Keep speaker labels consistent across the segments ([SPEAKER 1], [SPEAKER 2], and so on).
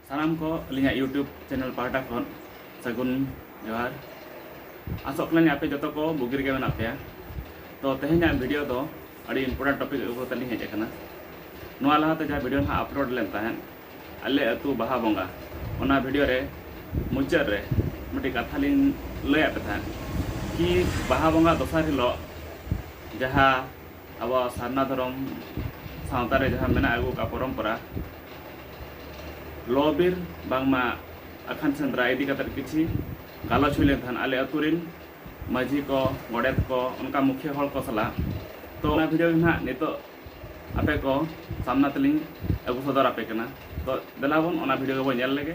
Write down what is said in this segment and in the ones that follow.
[SPEAKER 1] ᱥᱟᱱᱟᱢ ᱠᱚ ᱟᱹᱞᱤᱧᱟᱜ ᱤᱭᱩᱴᱩᱵᱽ ᱪᱮᱱᱮᱞ ᱯᱟᱦᱴᱟ ᱠᱷᱚᱱ ᱥᱟᱹᱜᱩᱱ ᱡᱚᱦᱟᱨ ᱟᱥᱚᱜ ᱠᱟᱱᱟᱞᱤᱧ ᱟᱯᱮ ᱡᱚᱛᱚ ᱠᱚ ᱵᱩᱜᱤ ᱨᱮᱜᱮ ᱢᱮᱱᱟᱜ ᱯᱮᱭᱟ ᱛᱚ ᱛᱮᱦᱮᱧᱟᱜ ᱵᱷᱤᱰᱤᱭᱳ ᱫᱚ ᱟᱹᱰᱤ ᱤᱢᱯᱚᱨᱴᱮᱱᱴ ᱴᱚᱯᱤᱠ ᱟᱹᱜᱩ ᱠᱟᱛᱮ ᱞᱤᱧ ᱦᱮᱡ ᱟᱠᱟᱱᱟ ᱱᱚᱣᱟ ᱞᱟᱦᱟᱛᱮ ᱡᱟᱦᱟᱸ ᱵᱷᱤᱰᱤᱭᱳ ᱱᱟᱦᱟᱜ ᱟᱯᱞᱳᱰ ᱞᱮᱱ ᱛᱟᱦᱮᱸᱫ ᱟᱞᱮ ᱟᱹᱛᱩ ᱵᱟᱦᱟ ᱵᱚᱸᱜᱟ ᱚᱱᱟ ᱵᱷᱤᱰᱤᱭᱳ ᱨᱮ ᱢᱩᱪᱟᱹᱫ ᱨᱮ ᱢᱤᱫᱴᱤᱡ ᱠᱟᱛᱷᱟ ᱞᱤᱧ ᱞᱟᱹᱭᱟᱫ ᱯᱮ ᱛᱟᱦᱮᱸᱫ ᱠᱤ ᱵᱟᱦᱟ ᱵᱚᱸᱜᱟ ᱫᱚᱥᱟᱨ ᱦᱤᱞᱳᱜ ᱡᱟᱦᱟᱸ ᱟᱵᱚᱣᱟᱜ ᱥᱟᱨᱱᱟ ᱫᱷᱚᱨᱚᱢ ᱥᱟᱶᱛᱟ ᱨᱮ ᱡᱟᱦᱟᱸ ᱢᱮᱱᱟᱜ ᱟᱹᱜᱩ ᱟᱠᱟᱫ ᱯᱚᱨᱚᱢᱯᱚᱨᱟ ᱞᱚ ᱵᱤᱨ ᱵᱟᱝᱢᱟ ᱟᱠᱷᱟᱱ ᱥᱮᱸᱫᱽᱨᱟ ᱤᱫᱤ ᱠᱟᱛᱮ ᱠᱤᱪᱷᱤ ᱜᱟᱞᱚᱪ ᱦᱩᱭ ᱞᱮᱱ ᱛᱟᱦᱮᱸᱫ ᱟᱞᱮ ᱟᱹᱛᱩ ᱨᱤᱱ ᱢᱟᱹᱡᱷᱤ ᱠᱚ ᱜᱚᱰᱮᱛ ᱠᱚ ᱚᱱᱠᱟ ᱢᱩᱠᱷᱤᱭᱟᱹ ᱦᱚᱲ ᱠᱚ ᱥᱟᱞᱟᱜ ᱛᱚ ᱚᱱᱟ ᱵᱷᱤᱰᱤᱭᱳ ᱜᱮ ᱱᱟᱦᱟᱜ ᱱᱤᱛᱚᱜ ᱟᱯᱮ ᱠᱚ ᱥᱟᱢᱱᱟ ᱛᱮᱞᱤᱧ ᱟᱹᱜᱩ ᱥᱚᱫᱚᱨ ᱟᱯᱮ ᱠᱟᱱᱟ ᱛᱚ ᱫᱮᱞᱟ ᱵᱚᱱ ᱚᱱᱟ ᱵᱷᱤᱰᱤᱭᱳ ᱜᱮᱵᱚᱱ ᱧᱮᱞ ᱞᱮᱜᱮ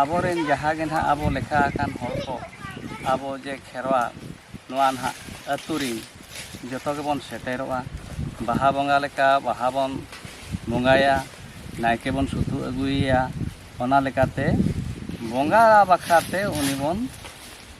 [SPEAKER 1] ᱟᱵᱚᱨᱮᱱ ᱡᱟᱦᱟᱸ ᱜᱮ ᱱᱟᱦᱟᱜ ᱟᱵᱚ ᱞᱮᱠᱷᱟ ᱟᱠᱟᱱ ᱦᱚᱲ ᱠᱚ ᱟᱵᱚ ᱡᱮ ᱠᱷᱮᱨᱣᱟᱲ ᱱᱚᱣᱟ ᱱᱟᱦᱟᱜ ᱟᱹᱛᱩ ᱨᱤᱱ ᱡᱚᱛᱚ ᱜᱮᱵᱚᱱ ᱥᱮᱴᱮᱨᱚᱜᱼᱟ ᱵᱟᱦᱟ ᱵᱚᱸᱜᱟ ᱞᱮᱠᱟ ᱵᱟᱦᱟ ᱵᱚᱱ ᱵᱚᱸᱜᱟᱭᱟ ᱱᱟᱭᱠᱮ ᱵᱚᱱ ᱥᱩᱛᱩ ᱟᱹᱜᱩᱭᱮᱭᱟ ᱚᱱᱟ ᱞᱮᱠᱟᱛᱮ ᱵᱚᱸᱜᱟ ᱵᱟᱠᱷᱨᱟᱛᱮ ᱩᱱᱤ ᱵᱚᱱ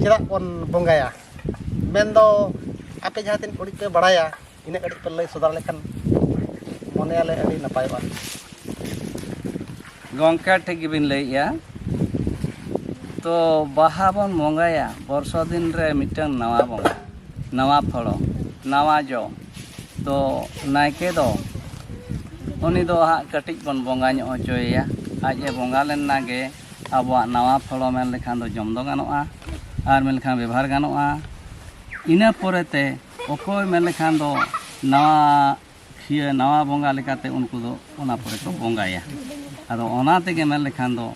[SPEAKER 1] ᱪᱮᱫᱟᱜ ᱵᱚᱱ ᱵᱚᱸᱜᱟᱭᱟ ᱢᱮᱱᱫᱚ ᱟᱯᱮ ᱡᱟᱦᱟᱸ ᱛᱤᱱᱟᱹᱜ ᱩᱰᱤᱡ ᱯᱮ ᱵᱟᱲᱟᱭᱟ ᱤᱱᱟᱹᱜ ᱠᱟᱹᱴᱤᱡ ᱯᱮ ᱞᱟᱹᱭ ᱥᱚᱫᱚᱨ ᱞᱮᱠᱷᱟᱱ ᱢᱚᱱᱮᱭᱟᱞᱮ ᱟᱹᱰᱤ ᱱᱟᱯᱟᱭᱚᱜᱼᱟ ᱜᱚᱢᱠᱮ ᱴᱷᱤᱠ ᱜᱮᱵᱤᱱ ᱞᱟᱹᱭᱮᱜᱼᱟ ᱛᱚ ᱵᱟᱦᱟ ᱵᱚᱱ ᱵᱚᱸᱜᱟᱭᱟ ᱵᱚᱨᱥᱟ ᱫᱤᱱ ᱨᱮ ᱢᱤᱫᱴᱟᱝ ᱱᱟᱣᱟ ᱵᱚᱸᱜᱟ ᱱᱟᱣᱟ ᱯᱷᱚᱲᱚ ᱱᱟᱣᱟ ᱡᱚ ᱛᱚ ᱱᱟᱭᱠᱮ ᱫᱚ ᱩᱱᱤ ᱫᱚ ᱦᱟᱸᱜ ᱠᱟᱹᱴᱤᱡ ᱵᱚᱱ ᱵᱚᱸᱜᱟ ᱧᱚᱜ ᱦᱚᱪᱚᱭᱮᱭᱟ ᱟᱡ ᱮ ᱵᱚᱸᱜᱟ ᱞᱮᱱ ᱮᱱᱟᱜᱮ ᱟᱵᱚᱣᱟᱜ ᱱᱟᱣᱟ ᱯᱷᱚᱲᱚ ᱢᱮᱱ ᱞᱮᱠᱷᱟᱱ ᱫᱚ ᱡᱚᱢ ᱫᱚ ᱜᱟᱱᱚᱜᱼᱟ ᱟᱨ ᱢᱮᱱ ᱞᱮᱠᱷᱟᱱ ᱵᱮᱵᱷᱟᱨ ᱜᱟᱱᱚᱜᱼᱟ ᱤᱱᱟᱹ ᱯᱚᱨᱮ ᱛᱮ ᱚᱠᱚᱭ ᱢᱮᱱ ᱞᱮᱠᱷᱟᱱ ᱫᱚ ᱱᱟᱣᱟ ᱠᱷᱤᱭᱟᱹ ᱱᱟᱣᱟ ᱵᱚᱸᱜᱟ ᱞᱮᱠᱟᱛᱮ ᱩᱱᱠᱩ ᱫᱚ ᱚᱱᱟ ᱯᱚᱨᱮ ᱠᱚ ᱵᱚᱸᱜᱟᱭᱟ ᱟᱫᱚ ᱚᱱᱟ ᱛᱮᱜᱮ ᱢᱮᱱ ᱞᱮᱠᱷᱟᱱ ᱫᱚ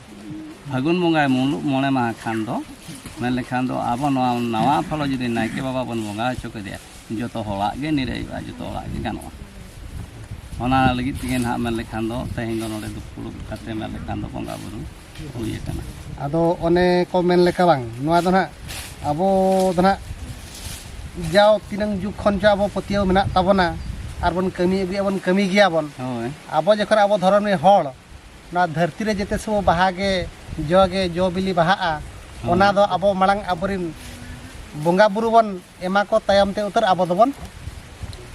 [SPEAKER 1] ᱯᱷᱟᱹᱜᱩᱱ ᱵᱚᱸᱜᱟᱭ ᱢᱩᱞᱩᱜ ᱢᱚᱬᱮ ᱢᱟᱦᱟ ᱠᱷᱟᱱ ᱫᱚ ᱢᱮᱱ ᱞᱮᱠᱷᱟᱱ ᱫᱚ ᱟᱵᱚ ᱱᱚᱣᱟ ᱱᱟᱣᱟ ᱯᱷᱚᱲᱚ ᱡᱩᱫᱤ ᱱᱟᱭᱠᱮ ᱵᱟᱵᱟ ᱵᱚᱱ ᱵᱚᱸᱜᱟ ᱦᱚᱪᱚ ᱠᱮᱫᱮᱭᱟ ᱡᱚᱛᱚ ᱦᱚᱲᱟᱜ ᱜᱮ ᱱᱤᱨᱟᱹᱭᱚᱜᱼᱟ ᱡᱚᱛᱚ ᱦᱚᱲᱟᱜ ᱜᱮ ᱜᱟᱱᱚᱜᱼᱟ ᱚᱱᱟ ᱞᱟᱹᱜᱤᱫ ᱛᱮᱜᱮ ᱱᱟᱦᱟᱜ ᱢᱮᱱ ᱞᱮᱠᱷᱟᱱ ᱫᱚ ᱛᱮᱦᱮᱧ ᱫᱚ ᱱᱚᱰᱮ ᱫᱩᱯᱲᱩᱵ ᱠᱟᱛᱮ ᱢᱮᱱ ᱞᱮᱠᱷᱟᱱ ᱫᱚ ᱵᱚᱸᱜᱟ ᱵᱩᱨᱩ ᱦᱩᱭ ᱟᱠᱟᱱᱟ ᱟᱫᱚ ᱚᱱᱮ ᱠᱚ ᱢᱮᱱ ᱞᱮᱠᱟ ᱵᱟᱝ ᱱᱚᱣᱟ ᱫᱚ ᱱᱟᱦᱟᱜ ᱟᱵᱚ ᱫᱚ ᱱᱟᱦᱟᱜ ᱡᱟᱣ ᱛᱤᱱᱟᱹᱝ ᱡᱩᱜᱽ ᱠᱷᱚᱱ ᱪᱚ ᱟᱵᱚ ᱯᱟᱹᱛᱭᱟᱹᱣ ᱢᱮᱱᱟᱜ ᱛᱟᱵᱚᱱᱟ ᱟᱨ ᱵᱚᱱ ᱠᱟᱹᱢᱤ ᱟᱹᱜᱩᱭᱟ ᱵᱚᱱ ᱠᱟᱹᱢᱤ ᱜᱮᱭᱟ ᱵᱚᱱ ᱦᱳᱭ ᱟᱵᱚ ᱡᱚᱠᱷᱚᱱ ᱟᱵᱚ ᱫᱷᱚᱨᱚᱢ ᱨᱮᱱ ᱦᱚᱲ ᱱᱚᱣᱟ ᱫᱷᱟᱹᱨᱛᱤ ᱨᱮ ᱡᱮᱛᱮ ᱥᱚᱢᱚᱭ ᱵᱟᱦᱟ ᱜᱮ ᱡᱚ ᱜᱮ ᱡᱚ ᱵᱤᱞᱤ ᱵᱟᱦᱟᱜᱼᱟ ᱚᱱᱟ ᱫᱚ ᱟᱵᱚ ᱢᱟᱲᱟᱝ ᱟᱵᱚᱨᱮᱱ ᱵᱚᱸᱜᱟ ᱵᱩᱨᱩ ᱵᱚᱱ ᱮᱢᱟ ᱠᱚ ᱛᱟᱭᱚᱢ ᱛᱮ ᱩᱛᱟᱹᱨ ᱟᱵᱚ ᱫᱚᱵᱚᱱ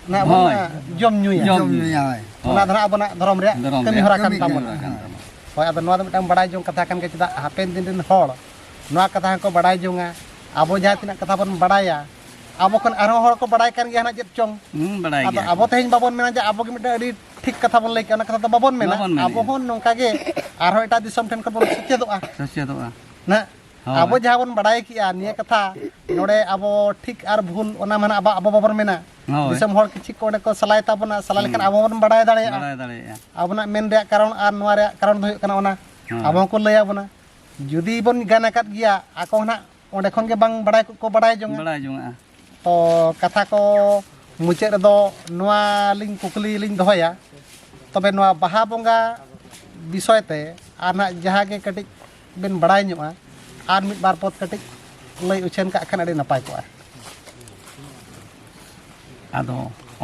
[SPEAKER 1] ᱚᱱᱟ ᱵᱚᱱ ᱦᱳᱭ᱾ ᱟᱸ, ᱡᱚᱢ ᱧᱩᱭᱟ ᱡᱚᱢ ᱡᱚᱢ ᱧᱩᱭᱟ ᱧᱩᱭᱟ ᱦᱳᱭ ᱚᱱᱟ ᱫᱚ ᱦᱟᱸᱜ ᱟᱵᱚᱱᱟᱜ ᱫᱷᱚᱨᱚᱢ ᱨᱮᱭᱟᱜ ᱫᱷᱚᱨᱚᱢ ᱠᱟᱹᱢᱤ ᱨᱮᱭᱟᱜ ᱦᱚᱨᱟ ᱠᱟᱱ ᱠᱟᱹᱢᱤ ᱠᱟᱱ ᱛᱟᱵᱚᱱᱟ ᱛᱟᱵᱚᱱᱟ᱾ ᱦᱳᱭ ᱟᱫᱚ ᱱᱚᱣᱟ ᱫᱚ ᱢᱤᱫᱴᱟᱝ ᱵᱟᱲᱟᱭ ᱡᱚᱝ ᱠᱟᱛᱷᱟ ᱠᱟᱱ ᱜᱮᱭᱟ ᱪᱮᱫᱟᱜ ᱦᱟᱯᱮᱱ ᱫᱤᱱ ᱨᱮᱱ ᱦᱚᱲ ᱱᱚᱣᱟ ᱠᱟᱛᱷᱟ ᱦᱚᱸᱠᱚ ᱵᱟᱲᱟᱭ ᱡᱚᱝᱟ ᱟᱵᱚ ᱡᱟᱦᱟᱸ ᱛᱤᱱᱟᱹᱜ ᱠᱟᱛᱷᱟ ᱵᱚᱱ ᱵᱟᱲᱟᱭᱟ ᱟᱵᱚ ᱠᱷᱚᱱ ᱟᱨᱦᱚᱸ ᱦᱚᱲ ᱠᱚ ᱵᱟᱲᱟᱭ ᱠᱟᱱ ᱜᱮᱭᱟ ᱦᱟᱸᱜ ᱪᱮᱫ ᱪᱚᱝ ᱦᱩᱸ ᱵᱟᱲᱟᱭ ᱟᱫᱚ ᱜᱮᱭᱟ ᱟᱵᱚ ᱛᱮᱦᱮᱧ ᱵᱟᱵᱚᱱ ᱢᱮᱱᱟ ᱡᱮ ᱟᱵᱚ ᱜᱮ ᱢᱤᱫᱴᱟᱝ ᱟᱹᱰᱤ ᱴᱷᱤᱠ ᱠᱟᱛᱷᱟ ᱵᱚᱱ ᱞᱟᱹᱭ ᱠᱮᱜᱼᱟ ᱚᱱᱟ ᱠᱟᱛᱷᱟ ᱫᱚ ᱵᱟᱵᱚᱱ ᱢᱮᱱᱟ ᱵᱟᱵᱚᱱ ᱢᱮᱱᱮᱜᱼᱟ᱾ ᱟᱵᱚ ᱦᱚᱸ ᱱᱚᱝᱠᱟ ᱜᱮ ᱟᱨᱦᱚᱸ ᱮᱴᱟᱜ ᱫᱤᱥᱚᱢ ᱴᱷᱮᱱ ᱠᱷᱚᱱ ᱵᱚᱱ ᱥᱮᱪᱮᱫᱚᱜᱼᱟ ᱥᱮᱪᱮᱫᱚᱜᱼᱟ ᱱᱟᱜ ᱟᱵᱚ ᱡᱟᱦᱟᱸ ᱵᱚᱱ ᱵᱟᱰᱟᱭ ᱠᱮᱜᱼᱟ ᱱᱤᱭᱟᱹ ᱠᱟᱛᱷᱟ ᱱᱚᱰᱮ ᱟᱵᱚ ᱴᱷᱤᱠ ᱟᱨ ᱵᱷᱩᱞ ᱚᱱᱟ ᱢᱟᱱᱮ ᱟᱵᱚ ᱟᱵᱚ ᱵᱟᱵᱚᱱ ᱢᱮᱱᱟ ᱫᱤᱥᱚᱢ ᱦᱚᱲ ᱠᱤᱪᱷᱩ ᱠᱚ ᱚᱸᱰᱮ ᱠᱚ ᱥᱟᱞᱟᱭ ᱛᱟᱵᱚᱱᱟ ᱥᱟᱞᱟ ᱞᱮᱠᱷᱟᱱ ᱟᱵᱚ ᱵᱚᱱ ᱵᱟᱰᱟᱭ ᱫᱟᱲᱮᱭᱟᱜᱼᱟ ᱟᱵᱚᱱᱟᱜ ᱢᱮᱱ ᱨᱮᱭᱟᱜ ᱠᱟᱨᱚᱱ ᱟᱨ ᱱᱚᱣᱟ ᱨᱮᱭᱟᱜ ᱠᱟᱨᱚᱱ ᱫᱚ ᱦᱩᱭᱩᱜ ᱠᱟᱱᱟ ᱚᱱᱟ ᱟᱵᱚ ᱦᱚᱸᱠᱚ ᱞᱟᱹᱭ ᱟᱵᱚᱱᱟ ᱡᱩᱫᱤ ᱵᱚᱱ ᱜᱟᱱ ᱟᱠᱟᱫ ᱜᱮᱭᱟ ᱟᱠᱚ ᱦᱚᱸ ᱱᱟᱜ ᱚᱸᱰᱮ ᱠᱷᱚᱱ ᱜᱮ ᱵᱟᱝ ᱵᱟᱰᱟᱭ ᱠᱚ ᱵᱟᱰᱟᱭ ᱡᱚᱝᱟ ᱵᱟᱰᱟᱭ ᱡᱚᱝᱟ ᱛᱚ ᱠᱟᱛᱷᱟ ᱠᱚ ᱢᱩᱪᱟᱹᱫ ᱨᱮᱫᱚ ᱱᱚᱣᱟ ᱞᱤᱧ ᱠᱩᱠᱞᱤ ᱞᱤᱧ ᱫᱚᱦᱚᱭᱟ ᱛᱚᱵᱮ ᱱᱚᱣᱟ ᱵᱟᱦᱟ ᱵᱚᱸᱜᱟ ᱵᱤᱥᱚᱭ ᱛᱮ ᱟᱨ ᱱᱟᱜ ᱡᱟᱦᱟᱸ ᱜᱮ ᱠᱟᱹᱴᱤᱡ ᱵᱮᱱ ᱵᱟᱲᱟᱭ ᱧᱚᱜᱼᱟ ᱟᱨ ᱢᱤᱫ ᱵᱟᱨ ᱯᱚᱫ ᱠᱟᱹᱴᱤᱡ ᱞᱟᱹᱭ ᱩᱪᱷᱟᱹᱱ ᱠᱟᱜ ᱠᱷᱟᱱ ᱟᱹᱰᱤ ᱱᱟᱯᱟᱭ ᱠᱚᱜᱼᱟ ᱟᱫᱚ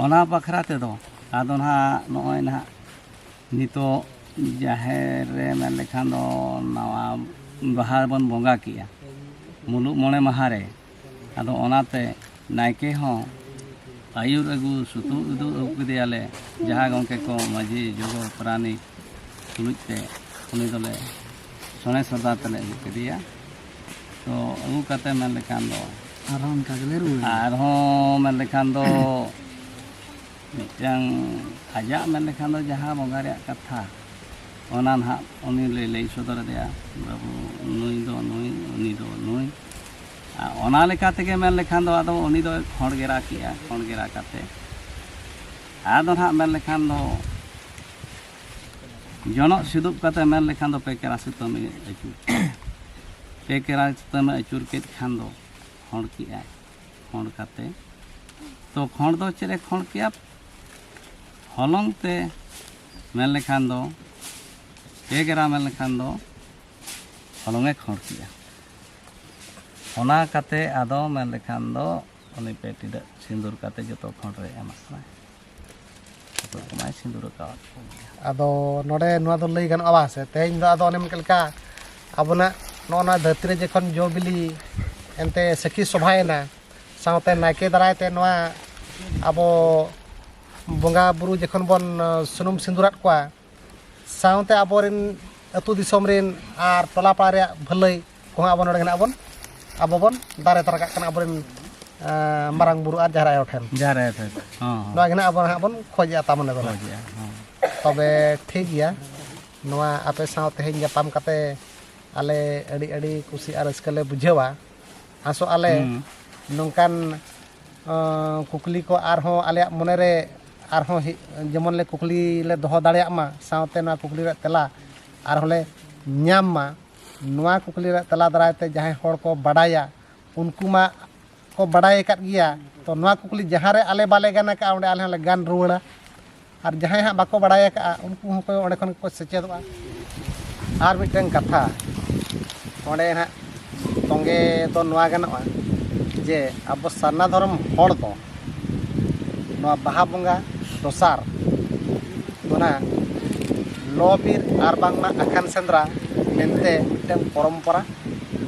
[SPEAKER 1] ᱚᱱᱟ ᱵᱟᱠᱷᱨᱟ ᱛᱮᱫᱚ ᱟᱫᱚ ᱱᱟᱦᱟᱜ ᱱᱚᱜᱼᱚᱭ ᱱᱟᱦᱟᱜ ᱱᱤᱛᱚᱜ ᱡᱟᱦᱮᱨ ᱨᱮ ᱢᱮᱱ ᱞᱮᱠᱷᱟᱱ ᱫᱚ ᱱᱟᱣᱟ ᱵᱟᱦᱟ ᱵᱚᱱ ᱵᱚᱸᱜᱟ ᱠᱮᱜᱼᱟ ᱢᱩᱞᱩᱜ ᱢᱚᱬᱮ ᱢᱟᱦᱟ ᱨᱮ ᱟᱫᱚ ᱚᱱᱟᱛᱮ ᱱᱟᱭᱠᱮ ᱦᱚᱸ ᱟᱹᱭᱩᱨ ᱟᱹᱜᱩ ᱥᱩᱛᱩᱜ ᱩᱫᱩᱜ ᱟᱹᱜᱩ ᱠᱮᱫᱮᱭᱟᱞᱮ ᱡᱟᱦᱟᱸ ᱜᱚᱢᱠᱮ ᱠᱚ ᱢᱟᱹᱡᱷᱤ ᱡᱚᱜᱚ ᱯᱟᱨᱟᱱᱤᱠ ᱛᱩᱞᱩᱡ ᱛᱮ ᱩᱱᱤ ᱫᱚᱞᱮ ᱥᱚᱱᱮ ᱥᱚᱫᱟ ᱛᱮᱞᱮ ᱟᱹᱜᱩ ᱠᱮᱫᱮᱭᱟ ᱛᱚ ᱟᱹᱜᱩ ᱠᱟᱛᱮ ᱢᱮᱱ ᱞᱮᱠᱷᱟᱱ ᱫᱚ ᱟᱨᱦᱚᱸ ᱚᱱᱠᱟ ᱜᱮᱞᱮ ᱨᱩᱣᱟᱹᱲ ᱟᱨᱦᱚᱸ ᱢᱮᱱ ᱞᱮᱠᱷᱟᱱ ᱫᱚ ᱢᱤᱫᱴᱟᱝ ᱟᱡᱟᱜ ᱢᱮᱱ ᱞᱮᱠᱷᱟᱱ ᱫᱚ ᱡᱟᱦᱟᱸ ᱵᱚᱸᱜᱟ ᱨᱮᱭᱟᱜ ᱠᱟᱛᱷᱟ ᱚᱱᱟ ᱱᱟᱦᱟᱜ ᱩᱱᱤ ᱞᱮ ᱞᱟᱹᱭ ᱥᱚᱫᱚᱨ ᱟᱫᱮᱭᱟ ᱵᱟᱹᱵᱩ ᱱᱩᱭ ᱫᱚ ᱱᱩᱭ ᱩᱱᱤ ᱫᱚ ᱱᱩᱭ ᱚᱱᱟ ᱞᱮᱠᱟ ᱛᱮᱜᱮ ᱢᱮᱱ ᱞᱮᱠᱷᱟᱱ ᱫᱚ ᱟᱫᱚ ᱩᱱᱤ ᱫᱚᱭ ᱠᱷᱚᱸᱰ ᱜᱷᱮᱨᱟ ᱠᱮᱜᱼᱟ ᱠᱷᱚᱸᱰ ᱜᱷᱮᱨᱟ ᱠᱟᱛᱮ ᱟᱫᱚ ᱱᱟᱦᱟᱜ ᱢᱮᱱ ᱞᱮᱠᱷᱟᱱ ᱫᱚ ᱡᱚᱱᱚᱜ ᱥᱤᱫᱩᱵ ᱠᱟᱛᱮ ᱢᱮᱱ ᱞᱮᱠᱷᱟᱱ ᱫᱚ ᱯᱮᱠᱮᱨᱟ ᱥᱩᱛᱟᱹᱢᱮ ᱟᱹᱪᱩᱨ ᱯᱮᱠᱮᱨᱟ ᱥᱩᱛᱟᱹᱢᱮ ᱟᱹᱪᱩᱨ ᱠᱮᱫ ᱠᱷᱟᱱ ᱫᱚ ᱠᱷᱚᱸᱰ ᱠᱮᱜᱼᱟᱭ ᱠᱷᱚᱸᱰ ᱠᱟᱛᱮ ᱛᱚ ᱠᱷᱚᱸᱰ ᱫᱚ ᱪᱮᱫ ᱮ ᱠᱷᱚᱸᱰ ᱠᱮᱜᱼᱟ ᱦᱚᱞᱚᱝ ᱛᱮ ᱢᱮᱱ ᱞᱮᱠᱷᱟᱱ ᱫᱚ ᱯᱮᱠᱮᱨᱟ ᱢᱮᱱ ᱞᱮᱠᱷᱟᱱ ᱫᱚ ᱦᱚᱞᱚᱝ ᱮ ᱠᱷᱟᱹᱲ ᱠᱮᱜᱼᱟ ᱚᱱᱟ ᱠᱟᱛᱮ ᱟᱫᱚ ᱢᱮᱱ ᱞᱮᱠᱷᱟᱱ ᱫᱚ ᱩᱱᱤ ᱯᱮ ᱴᱤᱰᱟᱹᱜ ᱥᱤᱸᱫᱩᱨ ᱠᱟᱛᱮ ᱡᱚᱛᱚ ᱠᱷᱚᱸᱰ ᱨᱮ ᱮᱢᱟᱜ ᱠᱟᱱᱟᱭ ᱡᱚᱛᱚ ᱠᱚᱢᱟᱭ ᱥᱤᱸᱫᱩᱨ ᱟᱠᱟᱣᱟᱫ ᱠᱚᱜᱮᱭᱟ ᱟᱫᱚ ᱱᱚᱰᱮ ᱱᱚᱣᱟ ᱫᱚ ᱞᱟᱹᱭ ᱜᱟᱱᱚᱜᱼᱟ ᱵᱟᱝ ᱥᱮ ᱛᱮᱦᱮᱧ ᱫᱚ ᱟᱫᱚ ᱚᱱᱮᱢ ᱞᱮᱠᱟ ᱟᱵᱚᱱᱟᱜ ᱱᱚᱜᱼᱚ ᱱᱚᱣᱟ ᱫᱷᱟᱹᱨᱛᱤ ᱨᱮ ᱡᱚᱠᱷᱚᱱ ᱡᱚ ᱵᱤᱞᱤ ᱮᱱᱛᱮ ᱥᱟᱹᱠᱷᱤ ᱥᱚᱵᱷᱟᱭᱮᱱᱟ ᱥᱟᱶᱛᱮ ᱱᱟᱭᱠᱮ ᱫᱟᱨᱟᱭ ᱛᱮ ᱱᱚᱣᱟ ᱟᱵᱚ ᱵᱚᱸᱜᱟ ᱵᱩᱨᱩ ᱡᱚᱠᱷᱚᱱ ᱵᱚᱱ ᱥᱩᱱᱩᱢ ᱥᱤᱸᱫᱩᱨᱟᱫ ᱠᱚᱣᱟ ᱥᱟᱶᱛᱮ ᱟᱵᱚᱨᱮᱱ ᱟᱹᱛᱩ ᱫᱤᱥᱚᱢ ᱨᱮᱱ ᱟᱨ ᱴᱚᱞᱟ ᱯᱟᱲᱟ ᱨᱮᱭᱟᱜ ᱵᱷᱟᱹᱞᱟᱹᱭ ᱠᱚᱦᱚᱸ ᱟᱵᱚ ᱱᱚᱰᱮ ᱦᱮᱱᱟᱜ ᱵᱚᱱ ᱟᱵᱚ ᱵᱚᱱ ᱫᱟᱨᱮ ᱛᱟᱨᱟ ᱠᱟᱜ ᱠᱟᱱᱟ ᱟᱵᱚᱨᱮᱱ ᱢᱟᱨᱟᱝ ᱵᱩᱨᱩ ᱟᱨ ᱡᱟᱦᱮᱨ ᱟᱭᱳ ᱴᱷᱮᱱ ᱡᱟᱦᱮᱨ ᱟᱭᱳ ᱴᱷᱮᱱ ᱱᱚᱣᱟ ᱜᱮ ᱱᱟᱜ ᱟᱵᱚ ᱱᱟᱜ ᱵᱚᱱ ᱠᱷᱚᱡᱮᱜᱼᱟ ᱛᱟᱢᱚᱱᱮ ᱫᱚ ᱛᱚᱵᱮ ᱴᱷᱤᱠ ᱜᱮᱭᱟ ᱱᱚᱣᱟ ᱟᱯᱮ ᱥᱟᱶ ᱛᱮᱦᱮᱧ ᱧᱟᱯᱟᱢ ᱠᱟᱛᱮ ᱟᱞᱮ ᱟᱹᱰᱤ ᱟᱹᱰᱤ ᱠᱩᱥᱤ ᱟᱨ ᱨᱟᱹᱥᱠᱟᱹ ᱞᱮ ᱵᱩᱡᱷᱟᱹᱣᱟ ᱟᱥᱚᱜ ᱟᱞᱮ ᱱᱚᱝᱠᱟᱱ ᱠᱩᱠᱞᱤ ᱠᱚ ᱟᱨᱦᱚᱸ ᱟᱞᱮᱭᱟᱜ ᱢᱚᱱᱮ ᱨᱮ ᱟᱨᱦᱚᱸ ᱡᱮᱢᱚᱱ ᱞᱮ ᱠᱩᱠᱞᱤ ᱞᱮ ᱫᱚᱦᱚ ᱫᱟᱲᱮᱭᱟᱜ ᱢᱟ ᱥᱟᱶᱛᱮ ᱱᱚᱣᱟ ᱠᱩᱠᱞᱤ ᱨᱮᱭᱟᱜ ᱛᱮᱞᱟ ᱟᱨᱦᱚᱸ ᱞᱮ ᱧᱟᱢ ᱢᱟ ᱱᱚᱣᱟ ᱠᱩᱠᱞᱤ ᱨᱮᱭᱟᱜ ᱛᱮᱞᱟ ᱫᱟᱨᱟᱭ ᱛᱮ ᱡᱟᱦᱟᱸᱭ ᱦᱚᱲ ᱠᱚ ᱵᱟᱰᱟᱭᱟ ᱩᱱᱠᱩ ᱢᱟ ᱠᱚ ᱵᱟᱰᱟᱭ ᱟᱠᱟᱫ ᱜᱮᱭᱟ ᱛᱚ ᱱᱚᱣᱟ ᱠᱩᱠᱞᱤ ᱡᱟᱦᱟᱸ ᱨᱮ ᱟᱞᱮ ᱵᱟᱞᱮ ᱜᱟᱱ ᱟᱠᱟᱫᱼᱟ ᱚᱸᱰᱮ ᱟᱞᱮ ᱦᱚᱸᱞᱮ ᱜᱟᱱ ᱨᱩᱣᱟᱹᱲᱟ ᱟᱨ ᱡᱟᱦᱟᱸᱭ ᱦᱟᱸᱜ ᱵᱟᱠᱚ ᱵᱟᱲᱟᱭ ᱟᱠᱟᱫᱼᱟ ᱩᱱᱠᱩ ᱦᱚᱸᱠᱚ ᱚᱸᱰᱮ ᱠᱷᱚᱱ ᱜᱮᱠᱚ ᱥᱮᱪᱮᱫᱚᱜᱼᱟ ᱟᱨ ᱢᱤᱫᱴᱟᱝ ᱠᱟᱛᱷᱟ ᱚᱸᱰᱮ ᱦᱟᱸᱜ ᱛᱚᱸᱜᱮ ᱫᱚ ᱱᱚᱣᱟ ᱜᱟᱱᱚᱜᱼᱟ ᱡᱮ ᱟᱵᱚ ᱥᱟᱨᱱᱟ ᱫᱷᱚᱨᱚᱢ ᱦᱚᱲ ᱫᱚ ᱱᱚᱣᱟ ᱵᱟᱦᱟ ᱵᱚᱸᱜᱟ ᱫᱚᱥᱟᱨ ᱚᱱᱟ ᱞᱚᱼᱵᱤᱨ ᱟᱨ ᱵᱟᱝᱢᱟ ᱟᱠᱷᱟᱱ ᱥᱮᱸᱫᱽᱨᱟ ᱢᱮᱱᱛᱮ ᱢᱤᱫᱴᱟᱝ ᱯᱚᱨᱚᱢᱯᱚᱨᱟ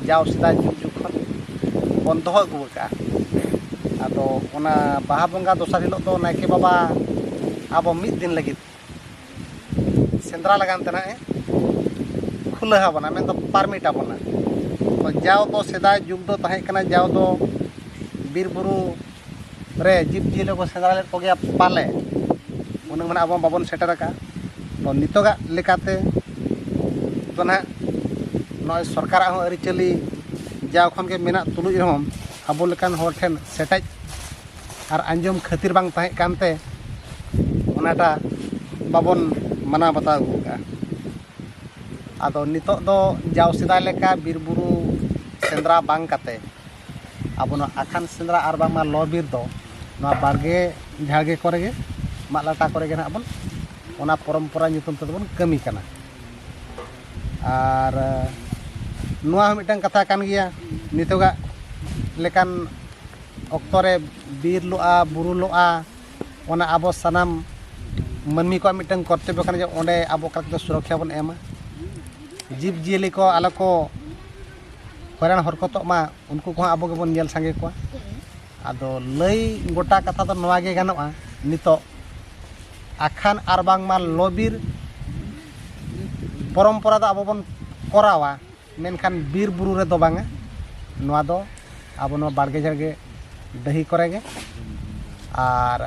[SPEAKER 1] ᱡᱟᱣ ᱥᱮᱫᱟᱭ ᱡᱩᱜᱽ ᱡᱩᱜᱽ ᱠᱷᱚᱱ ᱵᱚᱱ ᱫᱚᱦᱚ ᱟᱹᱜᱩ ᱟᱠᱟᱫᱼᱟ ᱟᱫᱚ ᱚᱱᱟ ᱵᱟᱦᱟ ᱵᱚᱸᱜᱟ ᱫᱚᱥᱟᱨ ᱦᱤᱞᱳᱜ ᱫᱚ ᱱᱟᱭᱠᱮ ᱵᱟᱵᱟ ᱟᱵᱚ ᱢᱤᱫ ᱫᱤᱱ ᱞᱟᱹᱜᱤᱫ ᱥᱮᱸᱫᱽᱨᱟ ᱞᱟᱜᱟᱱ ᱛᱮ ᱱᱟᱦᱟᱜ ᱮ ᱠᱷᱩᱞᱟᱹᱣ ᱟᱵᱚᱱᱟ ᱢᱮᱱᱫᱚ ᱯᱟᱨᱢᱤᱴ ᱟᱵᱚᱱᱟ ᱡᱟᱣ ᱫᱚ ᱥᱮᱫᱟᱭ ᱡᱩᱜᱽ ᱫᱚ ᱛᱟᱦᱮᱸ ᱠᱟᱱᱟ ᱡᱟᱣ ᱫᱚ ᱵᱤᱨ ᱵᱩᱨᱩ ᱨᱮ ᱡᱤᱵᱽ ᱡᱤᱭᱟᱹᱞᱤ ᱠᱚ ᱥᱮᱸᱫᱽᱨᱟ ᱞᱮᱫ ᱠᱚᱜᱮᱭᱟ ᱯᱟᱞᱮ ᱩᱱᱟᱹᱜ ᱢᱟᱱᱮ ᱟᱵᱚ ᱵᱟᱵᱚᱱ ᱥᱮᱴᱮᱨ ᱟᱠᱟᱫᱼᱟ ᱛᱚ ᱱᱤᱛᱚᱜᱟᱜ ᱞᱮᱠᱟᱛᱮ ᱛᱚ ᱱᱟᱦᱟᱜ ᱱᱚᱜᱼᱚᱭ ᱥᱚᱨᱠᱟᱨᱟᱜ ᱦᱚᱸ ᱟᱹᱨᱤᱪᱟᱹᱞᱤ ᱡᱟᱣ ᱠᱷᱚᱱ ᱜᱮ ᱢᱮᱱᱟᱜ ᱛᱩᱞᱩᱡ ᱨᱮᱦᱚᱸ ᱟᱵᱚ ᱞᱮᱠᱟᱱ ᱦᱚᱲ ᱴᱷᱮᱱ ᱥᱮᱴᱮᱡ ᱟᱨ ᱟᱸᱡᱚᱢ ᱠᱷᱟᱹᱛᱤᱨ ᱵᱟᱝ ᱛᱟᱦᱮᱸ ᱠᱟᱱᱛᱮ ᱚᱱᱟᱴᱟᱜ ᱵᱟᱵᱚᱱ ᱢᱟᱱᱟᱣ ᱵᱟᱛᱟᱣ ᱟᱹᱜᱩ ᱠᱟᱜᱼᱟ ᱟᱫᱚ ᱱᱤᱛᱚᱜ ᱫᱚ ᱡᱟᱣ ᱥᱮᱫᱟᱭ ᱞᱮᱠᱟ ᱵᱤᱨᱼᱵᱩᱨᱩ ᱥᱮᱸᱫᱽᱨᱟ ᱵᱟᱝ ᱠᱟᱛᱮᱫ ᱟᱵᱚ ᱱᱚᱣᱟ ᱟᱠᱷᱟᱱ ᱥᱮᱸᱫᱽᱨᱟ ᱟᱨ ᱵᱟᱝᱢᱟ ᱞᱚ ᱵᱤᱨ ᱫᱚ ᱱᱚᱣᱟ ᱵᱟᱲᱜᱮ ᱡᱷᱟᱲᱜᱮ ᱠᱚᱨᱮ ᱜᱮ ᱢᱟᱜ ᱞᱟᱴᱟ ᱠᱚᱨᱮ ᱜᱮ ᱱᱟᱦᱟᱜ ᱵᱚᱱ ᱚᱱᱟ ᱯᱚᱨᱚᱢᱯᱚᱨᱟ ᱧᱩᱛᱩᱢ ᱛᱮᱫᱚ ᱵᱚᱱ ᱠᱟᱹᱢᱤ ᱠᱟᱱᱟ ᱟᱨ ᱱᱚᱣᱟ ᱦᱚᱸ ᱢᱤᱫᱴᱟᱝ ᱠᱟᱛᱷᱟ ᱠᱟᱱ ᱜᱮᱭᱟ ᱱᱤᱛᱚᱜᱟᱜ ᱞᱮᱠᱟᱱ ᱚᱠᱛᱚ ᱨᱮ ᱵᱤᱨ ᱞᱚᱜᱼᱟ ᱵᱩᱨᱩ ᱞᱚᱜᱼᱟ ᱚᱱᱟ ᱟᱵᱚ ᱥᱟᱱᱟᱢ ᱢᱟᱹᱱᱢᱤ ᱠᱚᱣᱟᱜ ᱢᱤᱫᱴᱟᱝ ᱠᱚᱨᱛᱚᱵᱽᱵᱚ ᱠᱟᱱᱟ ᱡᱮ ᱚᱸᱰᱮ ᱟᱵᱚ ᱚᱠᱟ ᱞᱮᱠᱟᱛᱮ ᱥᱩᱨᱚᱠᱠᱷᱟ ᱵᱚᱱ ᱮᱢᱟ ᱡᱤᱵᱽᱼᱡᱤᱭᱟᱹᱞᱤ ᱠᱚ ᱟᱞᱚ ᱠᱚ ᱦᱚᱭᱨᱟᱱ ᱦᱚᱨᱠᱚᱛᱚᱜ ᱢᱟ ᱩᱱᱠᱩ ᱠᱚᱦᱚᱸ ᱟᱵᱚ ᱜᱮᱵᱚᱱ ᱧᱮᱞ ᱥᱟᱸᱜᱮ ᱠᱚᱣᱟ ᱟᱫᱚ ᱞᱟᱹᱭ ᱜᱚᱴᱟ ᱠᱟᱛᱷᱟ ᱫᱚ ᱱᱚᱣᱟ ᱜᱮ ᱜᱟᱱᱚᱜᱼᱟ ᱱᱤᱛᱚᱜ ᱟᱠᱷᱟᱱ ᱟᱨ ᱵᱟᱝᱢᱟ ᱞᱚᱵᱤᱨ ᱯᱚᱨᱚᱢᱯᱚᱨᱟ ᱫᱚ ᱟᱵᱚ ᱵᱚᱱ ᱠᱚᱨᱟᱣᱟ ᱢᱮᱱᱠᱷᱟᱱ ᱵᱤᱨ ᱵᱩᱨᱩ ᱨᱮᱫᱚ ᱵᱟᱝᱟ ᱱᱚᱣᱟ ᱫᱚ ᱟᱵᱚ ᱱᱚᱣᱟ ᱵᱟᱲᱜᱮ ᱡᱷᱟᱲᱜᱮ ᱰᱟᱹᱦᱤ ᱠᱚᱨᱮ ᱜᱮ ᱟᱨ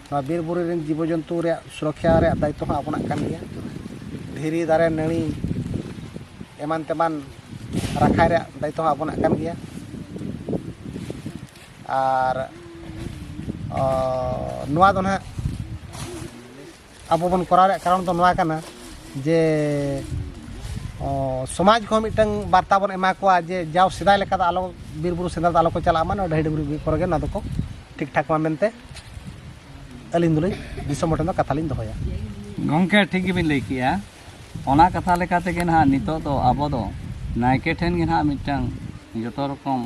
[SPEAKER 1] ᱱᱚᱣᱟ ᱵᱤᱨ ᱵᱩᱨᱩ ᱨᱮᱱ ᱡᱤᱵᱚ ᱡᱚᱱᱛᱩ ᱨᱮᱭᱟᱜ ᱥᱩᱨᱚᱠᱠᱷᱟ ᱨᱮᱭᱟᱜ ᱫᱟᱭᱤᱛᱛᱚ ᱦᱚᱸ ᱟᱵᱚᱱᱟᱜ ᱠᱟᱱ ᱜᱮᱭᱟ ᱫᱷᱤᱨᱤ ᱫᱟᱨᱮ ᱱᱟᱹᱲᱤ ᱮᱢᱟᱱ ᱛᱮᱢᱟᱱ ᱨᱟᱠᱷᱟᱭ ᱨᱮᱭᱟᱜ ᱫᱟᱭᱤᱛᱛᱚ ᱦᱚᱸ ᱟᱵᱚᱱᱟᱜ ᱠᱟᱱ ᱜᱮᱭᱟ ᱟᱨ ᱱᱚᱣᱟ ᱫᱚ ᱱᱟᱦᱟᱜ ᱟᱵᱚ ᱵᱚᱱ ᱠᱚᱨᱟᱣ ᱨᱮᱭᱟᱜ ᱠᱟᱨᱚᱱ ᱫᱚ ᱱᱚᱣᱟ ᱠᱟᱱᱟ ᱡᱮ ᱥᱚᱢᱟᱡᱽ ᱠᱚᱦᱚᱸ ᱢᱤᱫᱴᱟᱝ ᱵᱟᱨᱛᱟ ᱵᱚᱱ ᱮᱢᱟ ᱠᱚᱣᱟ ᱡᱮ ᱡᱟᱣ ᱥᱮᱫᱟᱭ ᱞᱮᱠᱟ ᱫᱚ ᱟᱞᱚ ᱵᱤᱨ ᱵᱩᱨᱩ ᱥᱮᱸᱫᱽᱨᱟ ᱫᱚ ᱟᱞᱚ ᱠᱚ ᱪᱟᱞᱟᱜ ᱢᱟ ᱱᱚᱣᱟ ᱰᱟᱹᱦᱤ ᱰᱩᱝᱨᱤ ᱠᱚᱨᱮ ᱜᱮ ᱱᱚᱣᱟ ᱫᱚᱠᱚ ᱴᱷᱤᱠ ᱴᱷᱟᱠ ᱢᱟ ᱢᱮᱱᱛᱮ ᱟᱹᱞᱤᱧ ᱫᱚᱞᱤᱧ ᱫᱤᱥᱚᱢ ᱦᱚᱲ ᱴᱷᱮᱱ ᱫᱚ ᱠᱟᱛᱷᱟ ᱞᱤᱧ ᱫᱚᱦᱚᱭᱟ ᱜᱚᱢᱠᱮ ᱴᱷᱤᱠ ᱜᱮᱵᱤᱱ ᱞᱟᱹᱭ ᱠᱮᱜᱼᱟ ᱚᱱᱟ ᱠᱟᱛᱷᱟ ᱞᱮᱠᱟ ᱛᱮᱜᱮ ᱱᱟᱦᱟᱜ ᱱᱤᱛᱚᱜ ᱫᱚ ᱟᱵᱚ ᱫᱚ ᱱᱟᱭᱠᱮ ᱴᱷᱮᱱ ᱜᱮ ᱱᱟᱦᱟᱜ ᱢᱤᱫᱴᱟᱝ ᱡᱚᱛᱚ ᱨᱚᱠᱚᱢ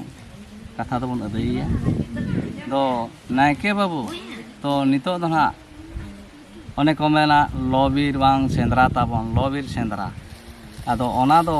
[SPEAKER 1] ᱠᱟᱛᱷᱟ ᱫᱚᱵᱚᱱ ᱟᱹᱫᱟᱹᱭᱮᱭᱟ ᱫᱚ ᱱᱟᱭᱠᱮ ᱵᱟᱹᱵᱩ ᱛᱚ ᱱᱤᱛᱚᱜ ᱫᱚ ᱱᱟᱦᱟᱜ ᱚᱱᱮ ᱠᱚ ᱢᱮᱱᱟ ᱞᱚᱼᱵᱤᱨ ᱵᱟᱝ ᱥᱮᱸᱫᱽᱨᱟ ᱛᱟᱵᱚᱱ ᱞᱚᱼᱵᱤᱨ ᱥᱮᱸᱫᱽᱨᱟ ᱟᱫᱚ ᱚᱱᱟ ᱫᱚ